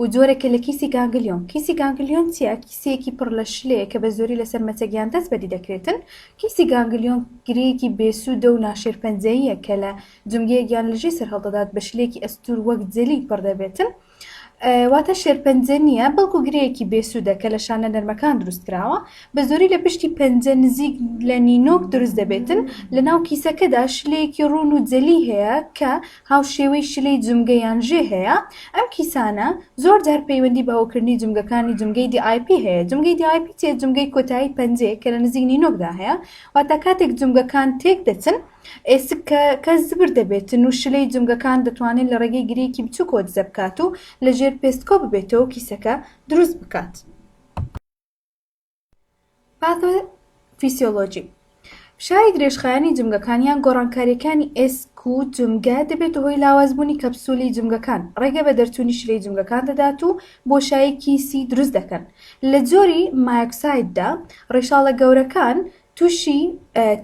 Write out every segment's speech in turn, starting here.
و جۆرێکە لە کیسی گانگلیۆن. کیسی گانگلیۆن چییە؟ کیسەیەکی پڕ لە شلەیە کە بە زۆری لەسەر مەچەک یان دەست بەدی دەکرێتن. کیسی گانگلیۆن گرێیەکی بێسوودە و ناشێرپەنجەییە کە لە جومگەیەک یان لژی سەر هەڵدەدات بە شلەیەکی ئەستوور وەک جەلی پڕ دەبێتن. واتە شێرپەنجە نییە بەڵکو گرێیەکی بێسوودە کە لە شانە نەرمەکان دروست کراوە. بە زۆری لە پشتی پەنجە نزیک لە نینۆک دروست دەبێتن. لە ناو کیسەکەدا شلەیەکی ڕوون و جەلی هەیە کە هاوشێوەی شلەی جومگە یان ژێ هەیە، ئەم کیسانە زۆر جار پەیوەندی بە هۆکردنی جومگەکانی جومگەی دی ئای پی هەیە، جومگەی دی ئای پی چیە؟ جومگەی کۆتایی پەنجەیەک کە لە نزیک نینۆکدا هەیە، واتە کاتێک جومگەکان تێک دەچن ئێسکەکە زبر دەبێتن و شلەی جومگەکان دەتوانێت لە ڕێگەی گرێیەکی بچوکەوە دزە بکات و لە ژێر پێست کۆ ببێتەوە و کیسەکە دروست بکات. پاتۆفیسیۆلۆجی فشاری درێژخایەنی جومگەکان یان گۆڕانکاریەکانی ئێسک و جومگە دەبێت هۆی لاوازبوونی کەپسولی جومگەکان ڕێگە بە دەرچوونی شرەی جومگەکان دەدات و بۆشاییکی سی دروست دەکەن لە جۆری مایکسایددا ڕیشاڵە گەورەکان تووشی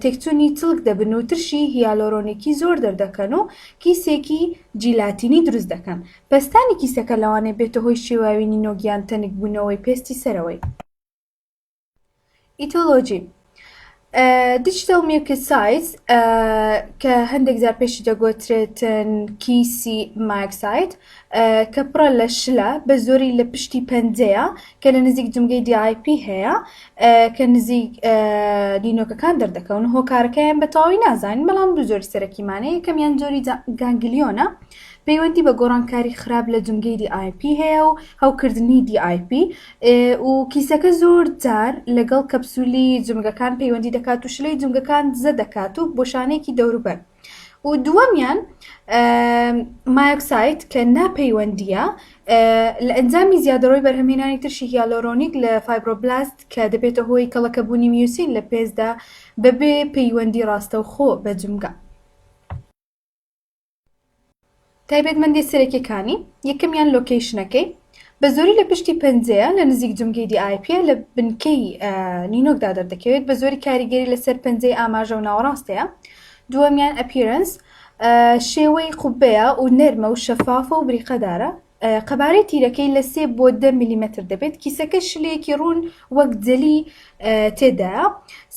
تێکچوونی چڵک دەبن و ترشی هیالۆرۆنیکی زۆر دەردەکەن و کیسێکی جیلاتینی دروست دەکەن. پەستانی کیسەکە لەوانەیە بێتە هۆی شێواوی نینۆک یان تەنکبوونەوەی پێستی سەرەوەی. ئیتۆلۆژی Digital Mucocytes کە هەندێک جار پێشی دەگۆترێتن کیسی مایکسایت، کە پڕە لە شلە بە زۆری لە پشتی پەنجەیە کە لە نزیک جمگەی DIP هەیە کە نزیک دینۆکەکان دەردەکەون هۆکارەکەیان بە تەواوی نازانین بەڵام دوو زۆری سەرەکیمانە یەکەمیان زۆری گانگلیۆنە پەیوەندی بە گۆڕانکاری خراپ لە جمگەی DIP هەیە و هەوکردنی DIP و کیسەکە زۆر جار لەگەڵ کەپسولی جمگەکان پەیوەندی دەکات و شلەی جمگەکان دزە دەکات و بۆشانێکی دەوروبەر و دووەمیان مایۆکساید کە ناپەیوەندییە لە ئەنجامی زیادەڕۆی بەرهەمهێنانی ترشی هیالۆرۆنیک لە فایبرۆبلاست کە دەبێتە هۆی کەڵەکەبوونی میوسین لە پێستدا بەبێ پەیوەندی ڕاستەوخۆ بە جومگە. تایبەتمەندیە سەرەکیەکانی، یەکەمیان لۆکەیشنەکەی بە زۆری لە پشتی پەنجەیە لە نزیک جومگەی دی ئای پیە لە بنکەی نینۆکدا دەردەکەوێت بە زۆری کاریگەری لەسەر پەنجەی ئاماژە و ناوەڕاستەیە دووەمیان ئەپیرەنس شێوەی قوبەیە و نەرمە و شەفافە و بریقەدارە قەبارەی تیرەکەی لە سێ بۆ دە ملیمەتر دەبێت کیسەکە شلەیەکی ڕوون وەک جەلی تێدایە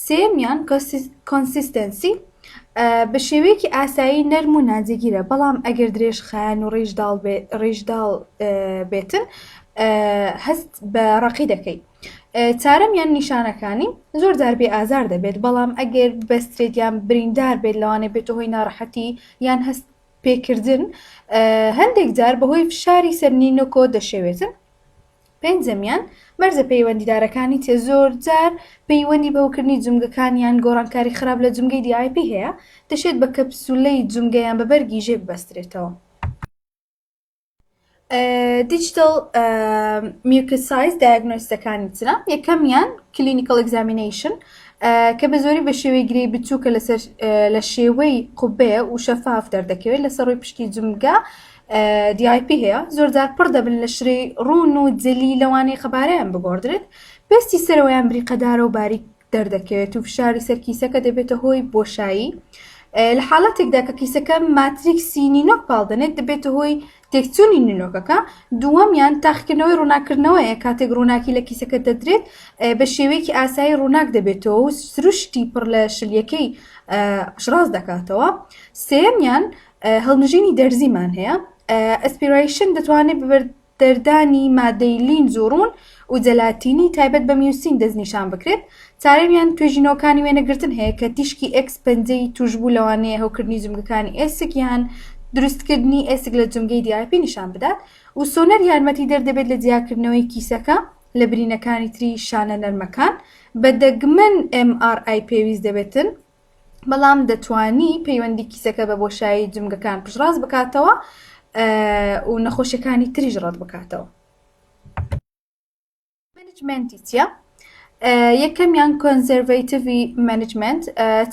سێمیان کۆنسیستەنسی بە شێوەیەکی ئاسایی نەرم و ناجێگیرە بەڵام ئەگەر درێژ خایەن و ڕیژداڵ ڕیژداڵ بێتن هەست بە ڕقی دەکەیت چارم یان نیشانەکانی زۆر جار بێ ئازار دەبێت بەڵام ئەگەر بەسترێت یان بریندار بێت لەوانێ بێتە هۆی ناڕەحەتی یان هەست پێکردن هەندێک جار بەهۆی فشاری سەر نینۆکۆ دەشێوێتن. پێنجەمیان، مەرزە پەیوەندیدارەکانی تێ زۆر جار پەیوەندی بەوکردنی جومگەکان یان گۆڕانکاری خراپ لە جومگەی DIP هەیە، دەشێت بە کەپسولەی جومگە یان بە بەرگی ژێ ببەسترێتەوە. دیجیتەڵ میوکت سایز دایگنۆستەکانی ترە یەکەمیان کلینیکل ئەگزامینەیشن کە بە زۆری بە شێوەی گری بچووکە لەسەر لە شێوەی قوبێ و شەفاف دەردەکەوێت لەسەر ڕووی پشتی جمگە دیIP هەیە زۆرجار پڕ دەبن لە شرەی ڕوون و جلی لەوانەیە قەبارەیان بگۆڕدرێت پێستی سەرەوەیان بریقەدارە و باریک دەردەکەوێت و فشاری سەر کیسەکە دەبێتە هۆی بۆشایی لە حاڵەتێکدا کە کیسەکە ماتریکسی نینۆک پاڵدەنێت دەبێتە هۆی تێکچوونی نینۆکەکە دووەمیان تاقیکردنەوەی ڕووناکردنەوەیە کاتێک ڕووناکی لە کیسەکە دەدرێت بە شێوەیەکی ئاسایی ڕووناک دەبێتەوە و سروشتی پڕ لە شلیەکەی شڕاز دەکاتەوە سێمیان هەڵمژینی دەرزیمان هەیە ئەسپیرایشن دەتوانێت دەردانی مادەی لینز و ڕوون و جەلاتینی تایبەت بە میوسین دەستنیشان بکرێت، چارەی یان توێژینەوەکانی وێنەگرتن هەیە کە تیشکی ئێکس پەنجەی تووشبوو لەوانەیە هەوکردنی جومگەکانی ئێسک یان دروستکردنی ئێسک لە جومگەی دیاپی نیشان بدات و سۆنەر یارمەتیدەر دەبێت لە جیاکردنەوەی کیسەکە لە برینەکانی تری شانە نەرمەکان، بە دەگمەن MRI پێویست دەبێتن. بەڵام دەتوانی پەیوەندی کیسەکە بە بۆشایی جمگەکان پشڕاست بکاتەوە و نەخۆشیەکانی تریش ڕەت بکاتەوە منجمنتیە یەکەمیان کۆنزەرڤیتیڤی منجمنت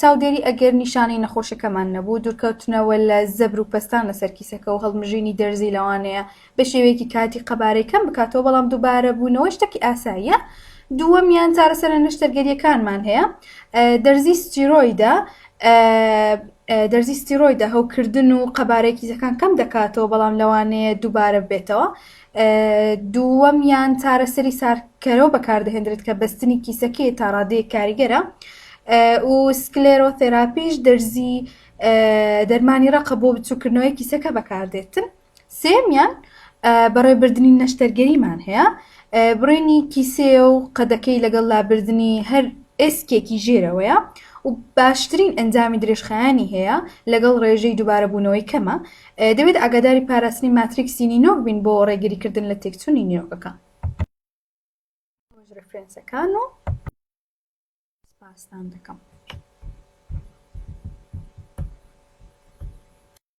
چاودێری ئەگەر نیشانەی نەخۆشەکەمان نەبوو دوورکەوتنەوە لە زەبر و پەستان لەسەر کیسەکە و هەڵمژینی دەرزی لەوانەیە بەشێوەیەکی کاتی قەبارەی کەم بکاتەوە، بەڵام دووبارەبوونەوەی شتەکی ئاساییە. دووەمیان چارەسەرە نەشتەرگەرییەکانمان هەیە، دەرزی ستیرۆیدە، دەرزی ستیرۆیدە هەوکردن و قەبارەی کیسەکان کەم دەکاتەوە، بەڵام لەوانەیە دووبارە ببێتەوە. دووەمیان چارەسەری ساردکەرەوە بەکاردەهێنرێت کە بەستنی کیسەکەی تا ڕادەیەک کاریگەرە و سکلێرۆثێراپیش دەرزی دەرمانی ڕەقە بۆ بچووکردنەوەی کیسەکە بەکاردێتن. سێیەمیان بەڕێبردنی نەشتەرگەریمان هەیە بڕێنی کیسەیە و قەدەکەی لەگەڵ لابردنی هەر ئێسکێکی ژێرەوەیە و باشترین ئەنجامی درێژخایانی هەیە لەگەڵ ڕێژەی دووبارە بوونەوەی کەمە دەبێت ئاگاداری پاراستنی ماتریکسی نینۆک بین بۆ ڕێگریکردن لە تێکچوونی نیۆکەکە ڕفرەنسەکان و پاستان دەکەم.